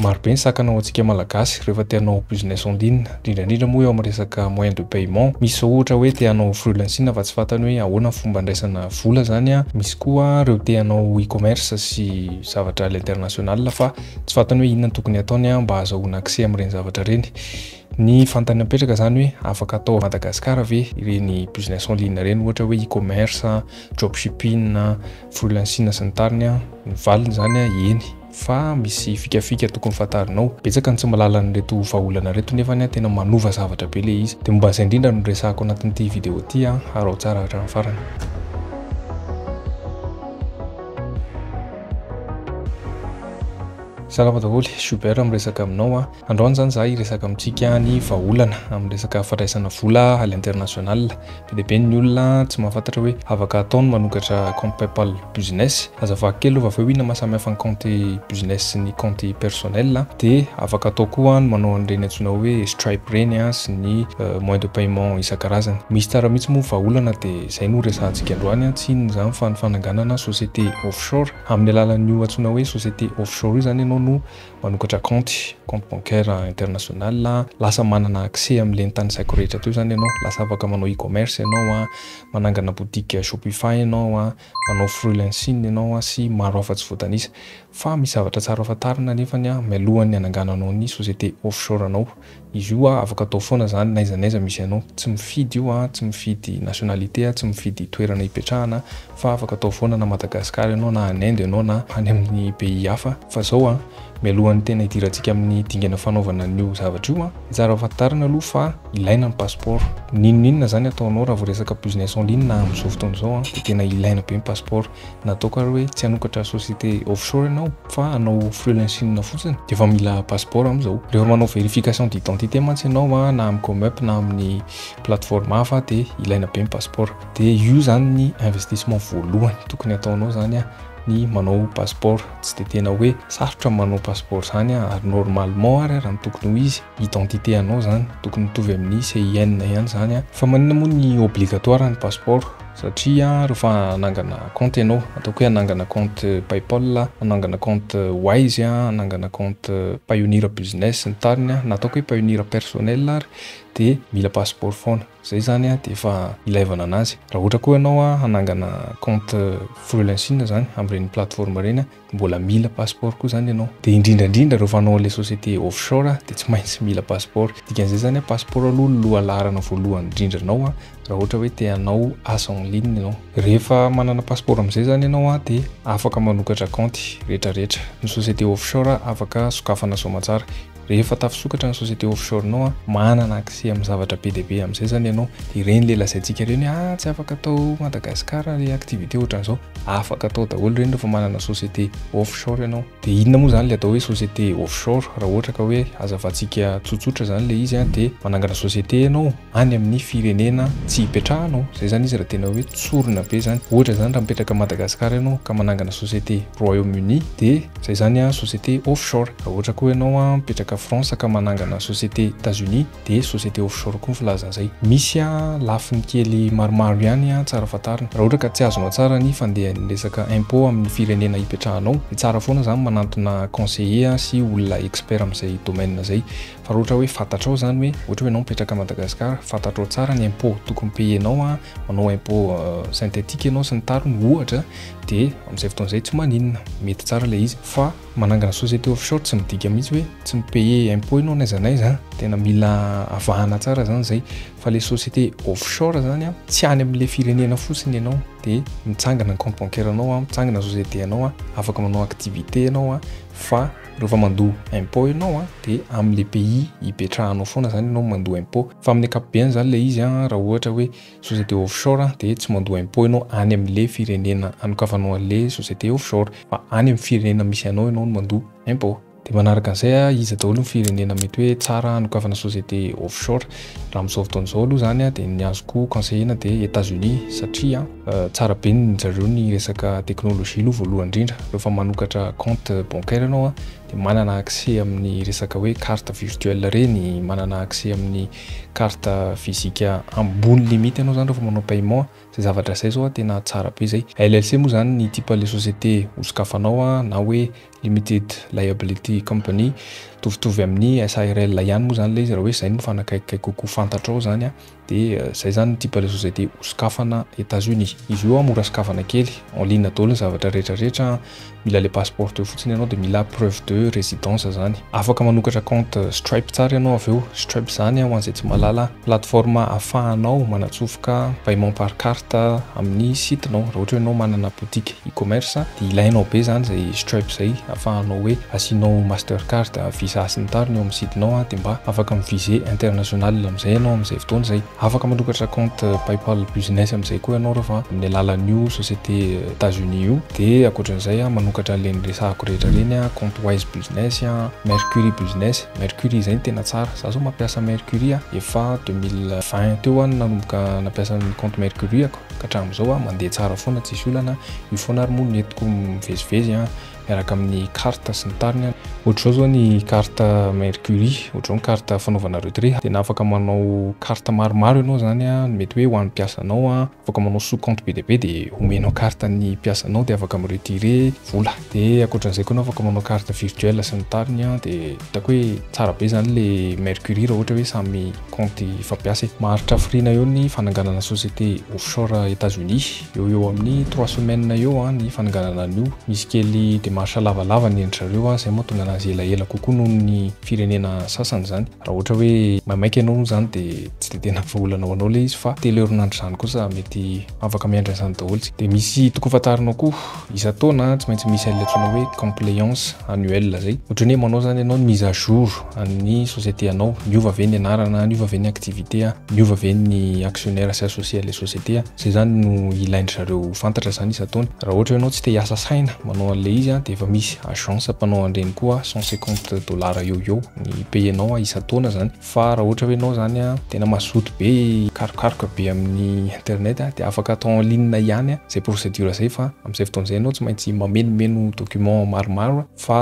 Maro be ny sakana ho antsika Malagasy rehefa te hanao business en ligne, indrindra indrindra moa eo amin'ny resaka moyen de paiement. Misy izao ohatra hoe te hanao freelancing fa tsy fantany hoe ahoana ny fomba handraisana vola izany an, misy koa ireo te hanao e-commerce sy zavatra à l'international fa tsy fantany hoe inona no tokony hataony an, mba hazahoana accès amin'ireny zavatra ireny. Ny fantany apetraka izany hoe afaka atao à Madagascar ve ireny business en ligne ireny ohatra hoe e-commerce, dropshipping, freelancing sy ny tariny an, ny valiny izany an, eny. fa misy fikafika tokony fantarinao, betsaka ny tsy mahalala an'ireto vahaolana ireto nefany an tena manova zavatra be le izy, de momba an'izay indrindra no resahako anatin'ity video ity an, araho tsara hatramin'ny farany. Salama daholo, Schubert miresaka aminao an, androany zany za hiresaka amintsika ny vahaolana amin'ny resaka fandraisana vola à l'international, Be dia be ny olona tsy mahafantatra hoe afaka atao ny manokatra compte paypal business. Aza vaky kely rehefa avy eo inona maha samy hafa ny compte business sy ny compte personnel a! Dia afaka atao koa ny manao an'ireny antsoina hoe stripe ireny a! sy ny moyen de paiement isan-karazany. Misy tsara mihitsy moa ny vahaolana dia izay no resahantsika androany a! Tsy inona izany fa ny fananganana société offshore. Amin'ny alalan'io antsoina hoe société offshore io izany ianao no manokatra kaonty, compte bancaire international, lasa manana accès amin'ilay nitanisaiko rehetra teo izany ianao, lasa afaka manao e-commerce ianao, manangana boutique shopify ianao, manao freelancing ianao sy maro hafa tsy voatanisa. Fa misy zavatra tsara fantarina anefany mialohan'ny hanangananao ny société offshore anao. Izy io a afaka atao foana zany n'aiza n'aiza misy anao, tsy mifidy io a, tsy mifidy nationalité a, tsy mifidy toerana hipetrahana fa afaka atao foana na Madagascar ianao na any Inde ianao na any amin'ny pays hafa. Fa zao a, mialohan'ny tena hidirantsika amin'ny dingana fanaovana an'io zavatra io a, tsara fantarina aloha fa ilaina ny passeport, n'inon'inona zany ataonao raha vao resaka business en ligne na amin'izao fotoana izao a, dia tena ilaina be ny passeport, Nataoko ary hoe tsy hanokatra société offshore ianao fa hanao freelancing fotsiny dia efa mila passeport amin'izao. Rehefa manao vérification d'identité mantsy ianao na amin'ny Comup na amin'ny plateforme hafa dia ilaina be ny passeport. Dia io izany ny investissement voalohany tokony hataonao izany ny manao passeport. Tsy dia tena hoe sarotra ny manao passeport izany ary normalement ary raha ny tokony ho izy identité anao izany tokony mitovy amin'ny CIN ihany izany fa maninona moa ny obligatoire ny passeport? Satria rehefa hanangana compte ianao, ataoko hoe hanangana compte paypal, hanangana compte wise, hanangana compte payoneer business sy ny tariny na ataoko hoe payoneer personnel ary dia mila passeport foana. Izay izany dia efa ilaivana an'azy. Raha ohatra koa ianao hanangana compte freelancing izany amin'ireny plateforme ireny Mbola mila passeport koa zany ianao. Dia indrindra indrindra rehefa hanao an'ilay société offshore dia tsy maintsy mila passeport. Dikan'izay zany hoe passeport aloha no lohalaharana voalohany indrindra anao raha ohatra hoe te hanao asa en ligne ianao. Rehefa manana passeport amin'izay zany ianao dia afaka manokatra kaonty rehetra rehetra. Ny société offshore afaka sokafana soamantsara. Rehefa tafisokatra ny société offshore-nao an, manana accès amin'ny zavatra be dia be amin'izay zany ianao, dia ireny le lazaintsika ireny hoe ah tsy afaka atao Madagascar le activité ohatran'izao, afaka atao daholo ireny rehefa manana société offshore ianao. Dia inona moa zany le atao hoe société offshore? Raha ohatra ka hoe hazavantsika tsotsotra zany le izy an, dia manangana société ianao, any amin'ny firenena tsy ipetrahanao, zay zany izy raha tena hoe tsorina be zany, ohatra zany raha mipetraka Madagascar ianao ka manangana société Royaume Uni de zay zany a société offshore, raha ohatra koa ianao a mipetraka France ka manangana société Etats Unis de société offshore koa ny filaza an'izay, misy a lafiny kely maromaro ihany a tsara fantarina, raha ohatra ka tsy azonao tsara ny fandehan'ny resaka impôt amin'ny firenena ipetrahanao de tsara foana zany manantona conseiller sy olona expert amin'izay domaine zay. Fa raha ohatra hoe fantatrao izany hoe ohatra hoe ianao mipetraka Madagascar, fantatrao tsara ny impôts tokony payer-nao an, manao impôts synthétiques ianao sy ny tariny ohatra dia amin'izay fotoana izay tsy maninona, mety tsara ilay izy. Fa manangana société offshore tsy midika mihitsy hoe tsy mi-payer impôts ianao n'aiza n'aiza an, tena mila avahana tsara izany izay. Fa ilay société offshore izany an, tsy any amin'ilay firenena fotsiny ianao dia mitsangana ny compte bancaire-nao an, mitsangana ny société-nao an, afaka manao activité ianao an, fa. Rehefa mandoa impôt ianao a, dia amin' ilay pays hipetrahanao foana izany ianao no mandoa impôt. Fa amin'ny ankapobeny izany ilay izy a, raha ohatra hoe société offshore dia tsy mandoa impôt ianao any amin'ilay firenena anokavanao an'ilay société offshore, fa any amin'ny firenena misy anao ianao no mandoa impôt. Dia manaraka an'izay a, iza daholo ny firenena mety hoe tsara hanokafana société offshore? Raha amin'izao fotoana izao aloha izany a, dia ny azoko conseiller-na dia États-Unis satria. Tsara be ny zareo ny resaka technologie aloha voalohany indrindra rehefa manokatra compte bancaire ianao dia manana accès amin'ny resaka hoe carte virtuelle ireny, manana accès amin'ny carte physique ambony limite ianao izany rehefa manao paiement, izay zavatra izay izao tena tsara be izay. LLC moa izany ny type le société hosokafanao na hoe limited liability company, mitovitovy amin'ny SARL ihany moa izany ilay izy raha hoe izay no mifanakaiky kokoa fantatrao izany. Dia zay zany ity Palazzo zay te hosokafana Etats Unis. Izy io mora sokafana kely, en ligne daholo ny zavatra rehetra rehetra, mila le passeport teo fotsiny ianao dia mila preuve de residence zany. Afaka manokatra compte Stripe tsara ianao avy eo, Stripe zany ho an'izay tsy mahalala, plateforme ahafahanao manatsofoka paiement par carte amin'ny site-nao, raha ohatra hoe ianao manana boutique. e-commerce dia ilainao be izany izay Stripe izay afahanao hoe asianao Mastercard, Visa sy ny tariny eo amin'ny sidinao dia mba afaka mi-viser international amin'izay ianao amin'izay fotoana izay. Afaka manokatra compte Paypal Business amin'izay koa ianao rehefa amin'ny alalan'io société Etats-Unis io. Dia ankoatran'izay manokatra an'ireny resahako rehetra ireny, compte Wise Business, Mercury Business. Mercury izay no tena tsara. Izaho izao mampiasa Mercury efa deux mille vingt teo aho no nanomboka nampiasa ny compte Mercury-ako. ka hatramin'izao a mandeha tsara foana tsisy olana, io foana ary moa no nentiko mivezivezy a, miaraka amin'ny carte sy ny tariny a. Ohatr'izao zao ny carte mercury, ohatr'izao ny carte fanaovana retrait, tena afaka manao carte maromaro ianao zany a, mety hoe ho an'ny mpiasanao a, afaka manao sous compte be dia be de omenao carte an'ny mpiasanao de afaka mi-retirer vola, de ankoatran'izay koa anao afaka manao carte virtuelle sy ny tariny a, de hitako hoe tsara be zany le mercury raha ohatra hoe samy. Compte efa mpiasa e. Maharitra hafiriana eo ny fananganana société offshore Etats Unis. Eo ho eo amin'ny trois semaines eo ny fananganana an'io. Misy kely démarche lavalava ny endry zareo an, izay mahatonga anazy elaela kokoa noho ny firenena sasany izany. Raha ohatra hoe maimaika ianao moa izany dia tsy dia tena vahaolana ho anao ilay izy fa telo herinandro izany kosa mety afaka miandry an'izany daholo isika. Dia misy tokony fantarinao koa. Isan-taona tsy maintsy misy an'ilay atsoina hoe compliance annuelle izay. Ohatran'ny hoe manao izany ianao ny mise à jour an'ny société anao. Niova ve ny anarana? Niova ve ny activité? Niova ve ny actionnaires sy associés an'ilay société? Izay izany no ilain-dry zareo ho fantatra izany isan-taona. Raha ohatra ianao tsy te hiasa saina manao an'ilay izy dia efa misy agence mpanao an'ireny koa, cent cinquante dollars eo ho eo ny paye-nao isan-taona izany. Fa raha ohatra hoe ianao izany tena mazoto be hikarokaroka be amin'ny internet dia afaka atao en ligne ihany izay procédure izay fa amin'izay fotoana izay ianao tsy maintsy mamenomeno document maromaro fa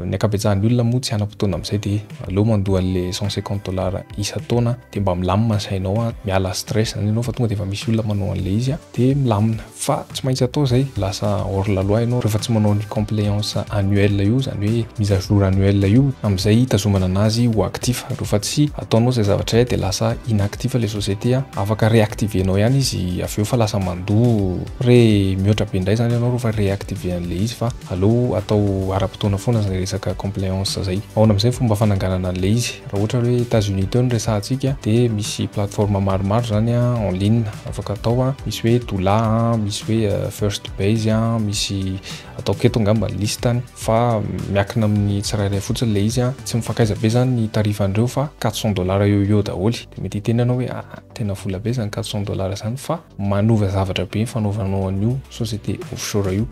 ny ankabetsahan'ny olona moa tsy hanam-potoana amin'izay dia aleo mandoa an'ilay cent cinquante dollars isan-taona dia mba milamina ny sainao miala stress izany ianao fa tonga dia efa misy olona manao an'ilay izy dia milamina fa tsy maintsy atao izay lasa hors la loi ianao rehefa tsy manao ny compliance annuel io izany hoe mise à jour annuel io amin'izay hitazomana anazy ho actif rehefa tsy ataonao izay zavatra izay dia lasa inactif ilay société afaka reactiver-nao ihany izy avy eo fa lasa mandoa re mihoatra be indray izany ianao rehefa reactiver an'ilay izy fa Aleo atao ara-potoana foana zay resaka compliance zay. Ahoana amizay fomba fananganana anle izy? Raha ohatra hoe Etats Unis teo no resahantsika de misy plateforme maromaro zany a en ligne afaka atao a, misy hoe Doula a, misy hoe First Base a, misy ataoko eto angamba ny listany fa miakina amin'ny tsirairay fotsiny le izy a, tsy mifankaiza be zany ny tarifan'ireo fa quatre cents dollars eo ho eo daholo, de mety hiteny ianao hoe ah tena vola be zany quatre cents dollars zany fa. manova zavatra be ny fanaovanao an'io société offshore io.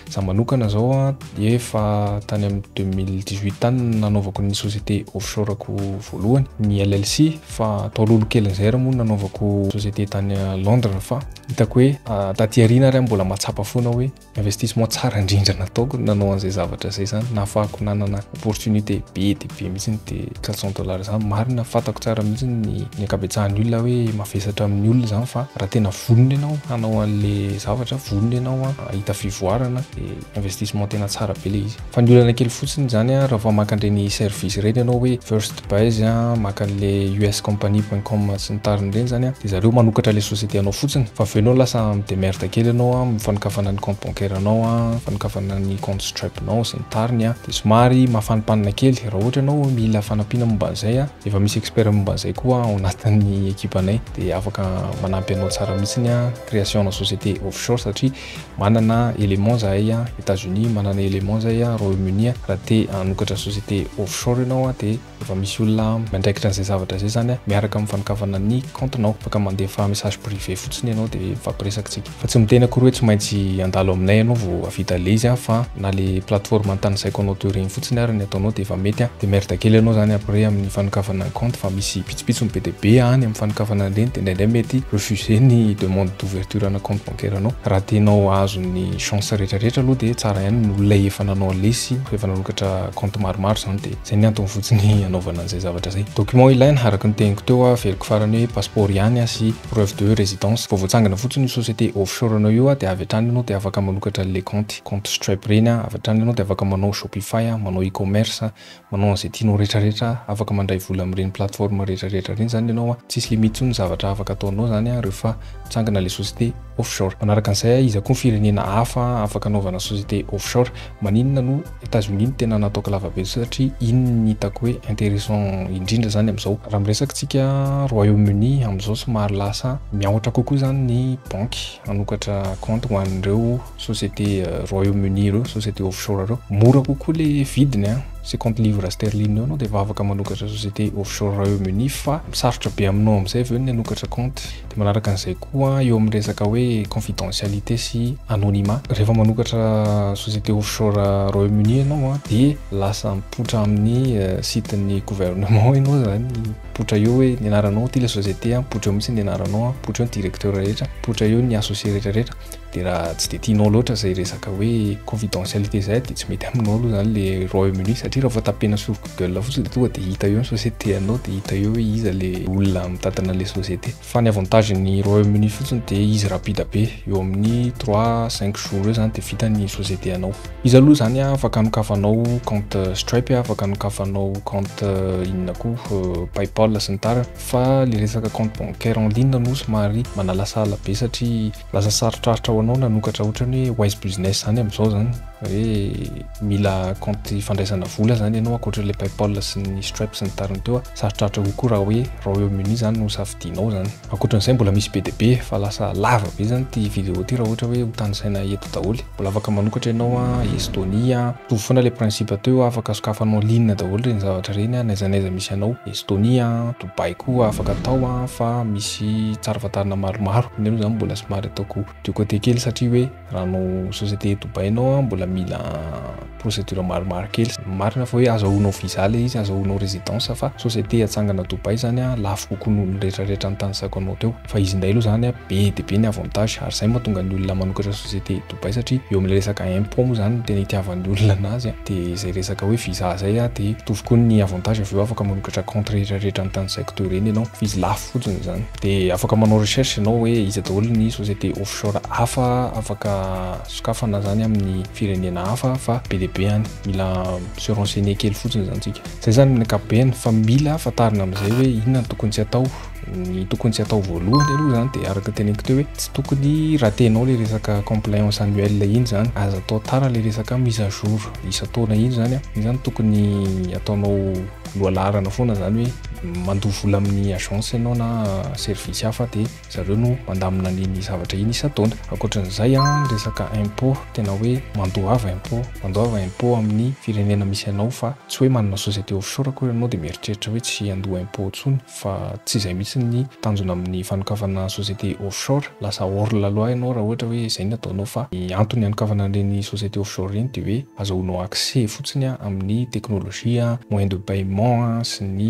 Za manokana zao a dia efa tany amin'ny 2018 tany nanaovako ny société offshore ko voalohany ny LLC fa tao lolokelin'izay raha moa nanaovako société tany Londres fa hitako hoe taty aoriana ary aho mbola mahatsapa foana hoe Investissement tsara indrindra nataoko ny nanao an'izay zavatra izay izany, nahafahako nanana opportunité be dia be mihitsy ny dia 400 dollars izany, marina fantako tsara mihitsy ny ny ankabetsahan'ny olona hoe mavesatra amin'ny olona izany fa raha tena vonona ianao hanao an'ilay zavatra, vonona ianao hahita fivoarana dia investissement tena tsara be ilay izy. Fa ny olana kely fotsiny izany an, raha vao maka an'ireny service ireny ianao hoe first buys an, maka an'ilay uscompany point com sy ny tariny ireny izany an, dia zareo manokatra ilay société anao fotsiny. Fa avy eo ianao lasa mi-demerde kely ianao amin'ny fanokafana ny compte bancaire anao an, fanokafana ny compte stripe nao sy ny tariny an, dia somary mafanimpanina kely. Raha ohatra ianao mila fanampiana momba an'izay an, efa misy expert momba an'izay koa ao anatin'ny ekipanay dia afaka manampy anao tsara mihitsy ny an, création ana société offshore satria Manana éléments zahay a États-Unis, manana éléments zahay a Royaume-Uni a, raha te hanokatra société offshore ianao a dia efa misy olona miandraikitra an'izay zavatra izay izany a, miaraka amin'ny fanokafana ny kaontinao, afaka mandefa message privé fotsiny ianao dia mifampiresaka tsika. Fa tsy miteny akory hoe tsy maintsy handalo aminay ianao vao hahavita le izy a, fa na le plateforme antanisaiko anao teo ireny fotsiny ary ny ataonao dia efa mety a, dia merda kely ianao izany après amin'ny fanokafana ny kaonty fa misy pitsopitsony be dia be any amin'ny fanokafana an'ireny dia indraindray mety refuser ny demande d'ouverture ana kaonty. Toeranao. Raha tianao hahazo ny chance rehetra rehetra aloha dia tsara ihany ny olona efa nanao lesy, efa nanokatra compte maromaro izany dia izay ny antony fotsiny hanaovana an'izay zavatra izay. Documents ilaina, araka ny teniko teo, averiko farany hoe passeport ihany sy preuve de residence. Vao voatsangana fotsiny io société offshore anao io dia avy hatrany ianao dia afaka manokatra an'ilay kaonty, compte Stripe ireny, avy hatrany ianao dia afaka manao shopify, manao e-commerce, Manao an'izay tianao retraretra, afaka mandray vola amin'ireny plateforme retraretra ireny zany ianao an, tsisy limite tsony ny zavatra afaka ataonao zany an rehefa mitsangana ilay société offshore. Manaraka an'izay an, iza koa ny firenena hafa afaka anaovana société offshore? Maninona no Etats Unis no tena nataoko lava be satria iny no hitako hoe intéressant indrindra zany amin'izao. Raha miresaka tsika Royaume Uni amin'izao somary lasa miahotra kokoa zany ny banky hanokatra compte ho an'ireo société Royaume Uni ireo société offshore ireo mora kokoa le vidiny a cinquante livres sterling eo anao dia vavaka manokatra société offshore Royaume Uni fa misarotra be aminao amin'izay avy eo ny hanokatra compte dia manaraka an'izay koa eo amin'ny resaka hoe confidentialité sy anonymat rehefa manokatra société offshore Royaume Uni ianao a dia lasa mipoitra amin'ny euh, site ny gouvernement ianao zany mipoitra eo hoe ny anaranao ty le société a mipoitra eo mihitsy ny anaranao a mipoitra eo ny directeur rehetra mipoitra eo ny associé rehetra rehetra Dia raha tsy dia tianao loatra izay resaka hoe confidentialité izay dia tsy mety aminao aloha izany le Royaume Uni satria raha vao tapena sur Google fotsiny dia tonga dia hita eo ny société anao dia hita eo hoe iza le olona mitantana le société. Fa ny avantage ny Royaume Uni fotsiny dia izy rapide be, eo amin'ny trois cinq jours eo izany dia vita ny société anao. Izy aloha izany afaka anokafanao compte Stripe, afaka anokafanao compte inona koa Paypal sy ny tariny fa le resaka compte bancaire en ligne no somary manalasala be satria Lasa sarotrarotra ho anao nanokatra ohatran'ny hoe wise business izany amin'izao izany hoe mila compte fandraisana vola izany ianao ankoatran'ilay paypal sy ny stripe sy ny tariny teo sarotrarotra kokoa raha hoe Royaume-Uni izany no safidianao izany ankoatran'izay mbola misy be dia be fa lasa lava be izany ity vidéo ity raha ohatra hoe ho tanisaina eto daholo mbola afaka manokatra ianao a Estonia mitovy foana ilay principe teo afaka sokafanao en ligne daholo ireny zavatra ireny a n'aiza n'aiza misy anao Estonia baiko afaka atao a fa misy tsara fantarina maromaro nefa zany mbola somary ataoko du côté kely satria hoe raha anao société dobainao a mbola mila procédure maromaro kely marina fa hoe azahoanao visa le izy azahoanao résidence fa société atsangana Dubaï zany a lafo kokoa noho ny rehetra rehetra nitanisaiko anao teo fa izy ndray aloha zany a be de be ny avantage ary zay mahatonga ny olona manokatra société Dubaï satria eo amin'ilay resaka impôt moa izany no tena itiavan'ny olona anazy dia izay resaka hoe visa izay dia mitovy koa ny avantage avy eo afaka manokatra compte rehetra rehetra ny tanisaiko teo ireny ianao fa izy lafo fotsiny izany dia afaka manao recherche ianao hoe iza daholo ny société offshore hafa afaka sokafana izany amin'ny firenena hafa fa be dia be any mila se renseigner kely fotsiny izany tsika izay izany amin'ny ankapobeny fa mila fantarina amin'izay hoe inona no tokony tsy atao ny tokony tsy atao voalohany aloha zany dia araka teneniko teo hoe tsy tokony ratenao le resaka compliance annuelle iny zany aza atao tara le resaka mise à jour isan-taona iny zany iny zany tokony ataonao lohalaharana foana zany hoe mandoa vola amin'ny agence ianao na service hafa dia zareo no mandamina an'iny zavatra iny isan-taona ankoatran'izay a resaka impôt tena hoe mandoava impôt mandoava impôt amin'ny firenena misy anao fa tsy hoe manana société offshore akory ianao dia mieritreritra hoe tsy handoa impôt intsony fa tsy izay mihitsy ny tanjona amin'ny fanokafana société offshore, lasa hors la loi ianao raha ohatra hoe izay no ataonao fa ny antony hanokafana an'ireny société offshore ireny dia hoe azahoanao accès fotsiny amin'ny technologie, moyen de paiement sy ny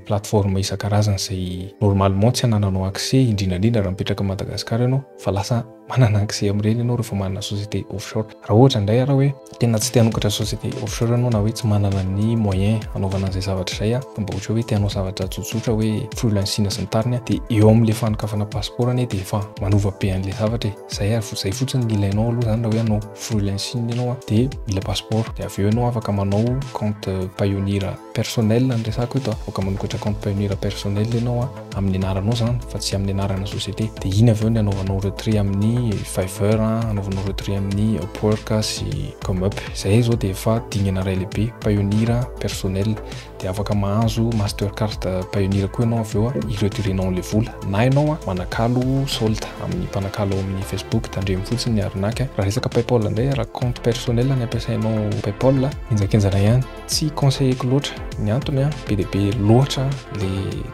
plateforme isan-karazany izay normalement tsy hanananao accès indrindra indrindra raha mipetraka Madagascar ianao fa lasa Manana accès amin'ireny ianao rehefa manana société offshore. Raha ohatra indray ianao hoe tena tsy te hanokatra société offshore ianao na hoe tsy manana ny moyen hanaovana an'izay zavatra izay aho fa mba ohatra hoe te hanao zavatra tsotsotra hoe freelancing sy ny tariny dia eo amin'ilay fanokafana passeport anie dia efa manova be an'ilay zavatra e. Izay ary izay fotsiny ny ilainao aloha izany raha hoe hanao freelancing ianao dia mila passeport dia avy eo ianao afaka manao compte payoneer Personnel no resako eto a, aoka manokatra compte pioneer personnel enao a, amin'ny anaranao zany fa tsy amin'ny anarana société, de iny avy eo ny anaovanao retrait amin'ny fiverr a, anaovanao retrait amin'ny upwork a sy comup, zay zao de efa dingana ray lehibe pioneer personnel, de afaka mahazo master card pioneer koa enao avy eo a, i retirenao anle vola, na enao a manakalo solde amin'ny mpanakalo ao amin'ny facebook, tandremo fotsiny ny arnaque, raha resaka paypal ndray, raha compte personnel ny ampiasainao paypal a, henjakenjana ihany. Tsy conseilleko loatra ny antony an, be dia be loatra le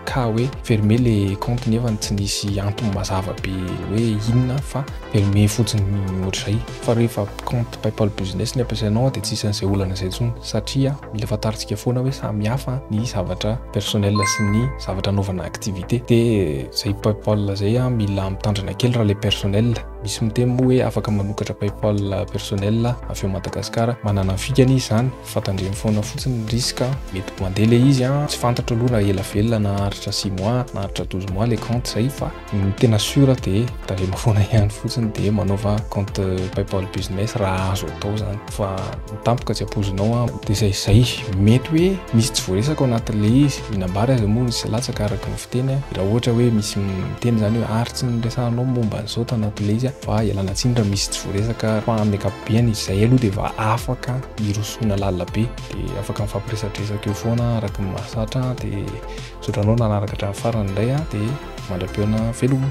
cas hoe fermer le compte nefany tsy nisy antony mazava be hoe inona fa fermer fotsiny ohatr'izay fa rehefa compte paypal business ny ampiasainao dia tsisy an'izay olana izay intsony satria mila fantarintsika foana hoe samy hafa ny zavatra personnel sy ny zavatra anaovana activité dia izay paypal izay an mila mitandrina kely raha le personnel. Misy miteny moa hoe afaka manokatra Paypal personnel avy ao Madagascar. Manana ny fikany izy izany fa tandremo foana fotsiny ny risque mety ho mandeha ilay izy an! Tsy fantatro aloha raha ela velona na haharitra six mois na haharitra douze mois ilay compte izay fa ny tena sur dia tandremo foana ihany fotsiny dia manaova compte Paypal business raha azo atao izany. fa ho tampoka tsy ampoizinao aho dia izay izay, mety hoe misy tsy voaresaka ao anatin'ilay izy, io nambara izay moa misy latsaka araka ny fiteny aho, raha ohatra hoe misy miteny izany hoe ary tsy niresahanao momba an'izao tao anatin'ilay izy aho, fa ialana tsiny raha misy tsy voaresaka fa amin'ny ankapobeany izay aloha dia efa afaka hirosoana lalina be dia afaka mifampiresadresaka eo foana araka ny mahazatra dia misaotra anao nanaraka hatramin'ny farany indray dia mandra-pihaona veloma.